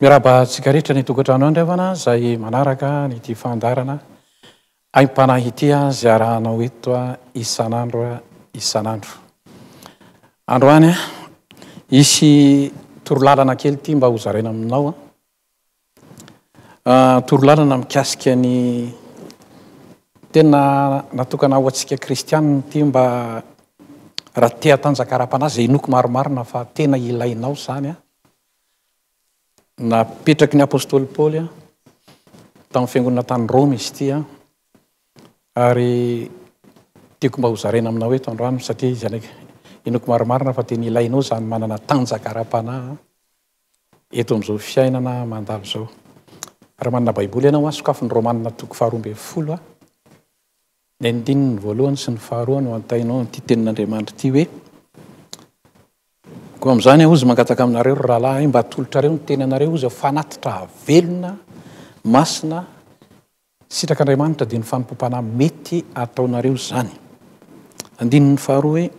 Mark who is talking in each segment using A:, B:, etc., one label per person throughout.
A: Miarahaba antsika rehetra ny tokantrano andriavana izay manaraka an'ity fandaharana aim-panahy ity izay arahanao eto isan'andro isan'andro. Androany hisy torolalana kely ity mba hozaraina aminao. Ah, torolalana mikasika ny tena natokana ho antsika kristianina ity mba raha te hatanjaka ara-panahy izay inoako marimarina fa tena ilainao izany Napetraky ny apostoly Paoly tamin'ny fiangonana tany Roma izy ity ary tiako mba hozaraina aminao eto androany satria izy anaka inoako marimarina fa tena ilainao izany manana tanjaka ara-panahy eto amin'izao fiainana mandalo izao. Raha manana Baiboly ianao, sokafy ny Romanina toko faharoa ambin'ny folo. Ny andininy voalohany sy ny faharoa no antainao amin'ity tenin'Andriamanitra ity hoe, Koa amin'izany aho ozy mangataka aminareo, ry rahalahy, mba atolotrareo ny tenanareo ozy ho fanatitra velona, masina, sitrak'Andriamanitra, dia ny fanompoam-panahy mety ataonareo izany. Andininy faharoa hoe,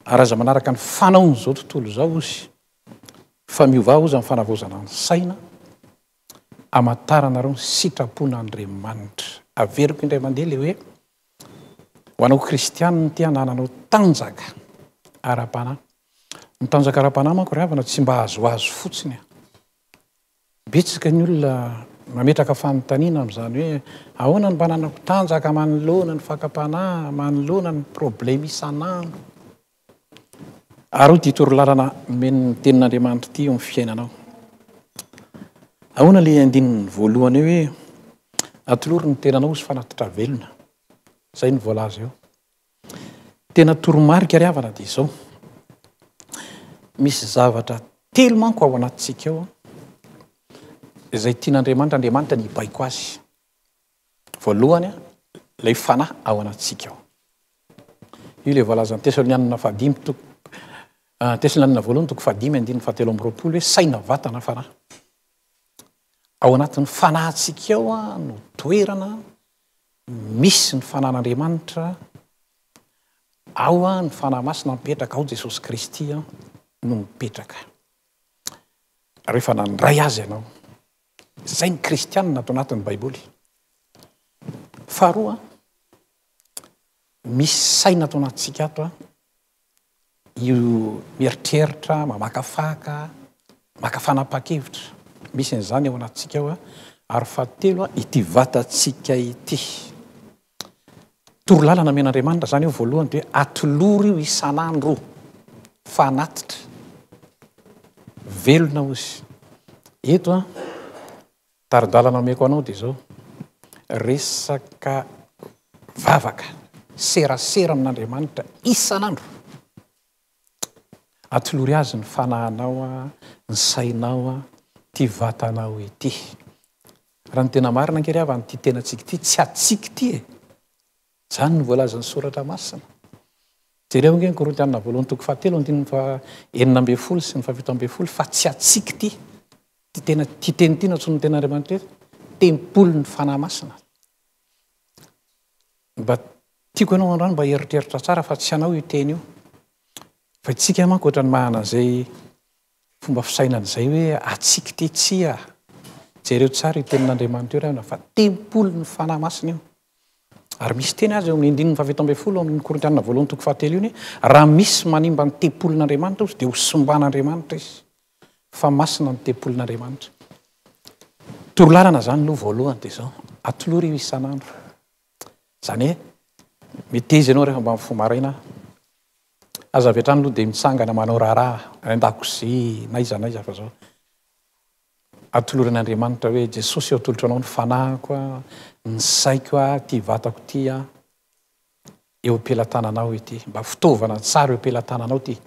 A: Ary aza manaraka ny fanaon'izao tontolo izao ozy, fa miovà ozy amin'ny fanavaozana ny saina, Hamantaranareo ny sitrapon'Andriamanitra. Averiko indray mandeha ilay hoe, ho anao kristianina te hanananao tanjaka ara-panahy. Ny tanjaka ara-panahy manko ry havana tsy mba azoazo fotsiny an! Betsaka ny olona mametraka fanontaniana amin'izany hoe, ahoana no mba hananako tanjaka manoloana ny fakam-panahy, manoloana ny probleme isan'andro? Ary hoy ity torolalana omen'ny Tenin'Andriamanitra ity eo amin'ny fiainanao. Ahoana ilay andininy voalohany eo hoe atolory ny tenanao sy fanatitra velona. Izay no voalaza eo. Tena toromarika ry havana dia izao. Misy zavatra telo manko ao anatintsika ao izay tian'Andriamanitra. Andriamanitra ny hibaiko azy. Voalohany, ilay fanahy ao anatintsika ao. Io ilay voalazan'ny Tesalonianina fahadimy toko ah, Tesalonianina voalohany toko fahadimy andininy fahatelo amby roapolo hoe saina, vatana, fanahy. Ao anatin'ny fanahintsika ao ah, no toerana misy ny fanan'Andriamanitra ao ah, ny fanahy masina mipetraka ao Jesosy Kristy ah, no mipetraka. Rehefa nandray azy ianao, Izay ny kristianina ato anatin'ny Baiboly. Faharoa, misy saina ato anatintsika ato io mieritreritra, mamakafaka, maka fanapahan-kevitra. Misy an'izany ao anatintsika ao. Ary fahatelo, ity vatantsika ity. Toro lalana omen' Andriamanitra izany io voalohany dia atolory io isan' andro fa hanatitra. Velona hoy izy. Eto an, tari-dalana omeko anao dia izao, resaka vavaka, serasera amin' Andriamanitra isan' andro. Atolory Azy ny fanahinao, ny sainao, ity vatanao ity. Raha ny tena marina ange ry havana, ity tenantsika ity tsy antsika ity e! Izany no voalazan'ny Soratra Masina. Jereo ange ny Korintiana voalohany toko fahatelo andininy fahenina ambin'ny folo sy ny fahafito ambin'ny folo fa tsy antsika ity. Ity tena ity teny ity nantsoin'ny ten'Andriamanitra hoe tempolin'ny Fanahy Masina. Mba tiako ianao androany mba hieritreritra tsara fa tsy anao io teny io. Fa isika manko ohatran'ny manana izay Fomba fisainana izay hoe atsiky ty tsia. Jereo tsara io tenin'Andriamanitra io ry havana fa tempolin'ny Fanahy Masina io. Ary misy teny aza eo amin'ny andininy faha fito ambin'ny folo ao amin'ny Korintiana voalohany toko faha telo iny hoe raha misy manimba ny tempolin'Andriamanitra ozy dia ho simban'Andriamanitra izy. Fa masina ny tempolin'Andriamanitra. Torolalana izany aloha voalohany dia izao. Atolory io isan'andro. Izany hoe meteza ianao rehefa mba mifoha maraina, aza avy hatrany aloha dia mitsangana manao raharaha any an-dakozia na aiza na aiza fa zao. Atoloran'Andriamanitra hoe Jesosy ô atolotro anao ny fanahiko a, ny saiko a, ity vatako ity a, eo am-pelatananao ity. Mba fitaovana tsara eo am-pelatananao ity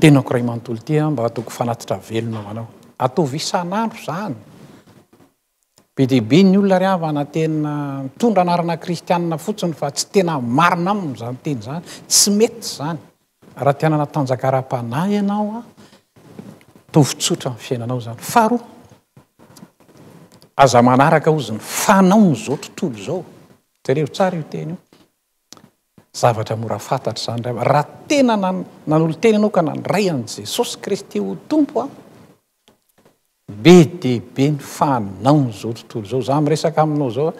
A: tenako iray manontolo ity a, mba ataoko fanatitra velona ho anao. Ataovy isan'andro izany. Be dia be ny olona ry havana tena mitondra anarana kristianina fotsiny fa tsy tena marina aminy izany teny izany, tsy mety izany. Raha te hanana tanjaka ara-panahy ianao an, ataovy tsotra ny fiainanao izany. Faharoa, aza manaraka hozy ny fanaon'izao tontolo izao. Jereo tsara io teny io. Zavatra mora fantatra izany ry havana. Raha tena nanolo-tena ianao ka nandray an'i Jesosy Kristy ho Tompo an, Be dia be ny fanahiny izao tontolo izao, za miresaka aminao zao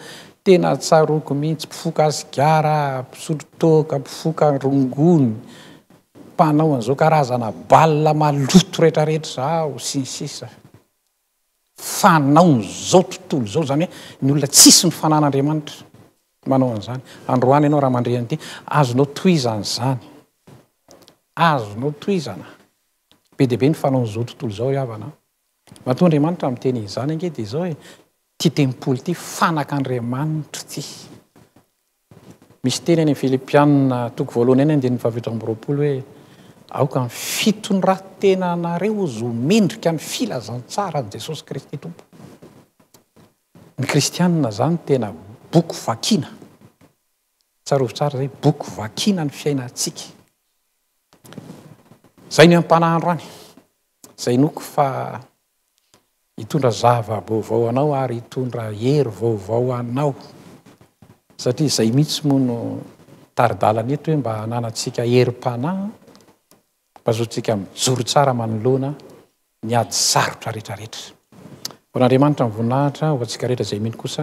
A: tena tsaroako mihitsy mpifoka sigara, mpisotro toaka, mpifoka rongony, mpanao an'izao karazana bal maloto rehetra rehetra izao sy ny sisa. Fanahiny izao tontolo izao izany hoe ny olona tsisy ny fanan'Andriamanitra manao an'izany. Androany ianao raha mandre an'ity azonao tohizana izany, azonao tohizana. Be dia be ny fanaon'izao tontolo izao ry havana an! Matoa Andriamanitra miteny izany ange dia izao e, ity tempoly ity fanak'Andriamanitra ity. Misy teny any amin'ny Filipianina toko voalohany any andininy fahafito amby roapolo hoe aoka ny fitondratenanareo ho zo mendrika ny filazantsaran'i Jesosy Kristy Tompo. Ny Kristianina izany tena boky vakina. Tsarovy tsara izay, boky vakina ny fiainantsika. Zay ny ampanahy androany. Zay inoako fa hitondra zava-baovao ho anao ary hitondra hery vaovao ho anao satria zay mihitsy moa no tari-dalana eto hoe mba hananantsika herim-panahy mba ahazoantsika mijoro tsara manoloana ny ady sarotra rehetra rehetra. Ho an'Andriamanitra ny voninahitra, ho antsika rehetra izay mino kosa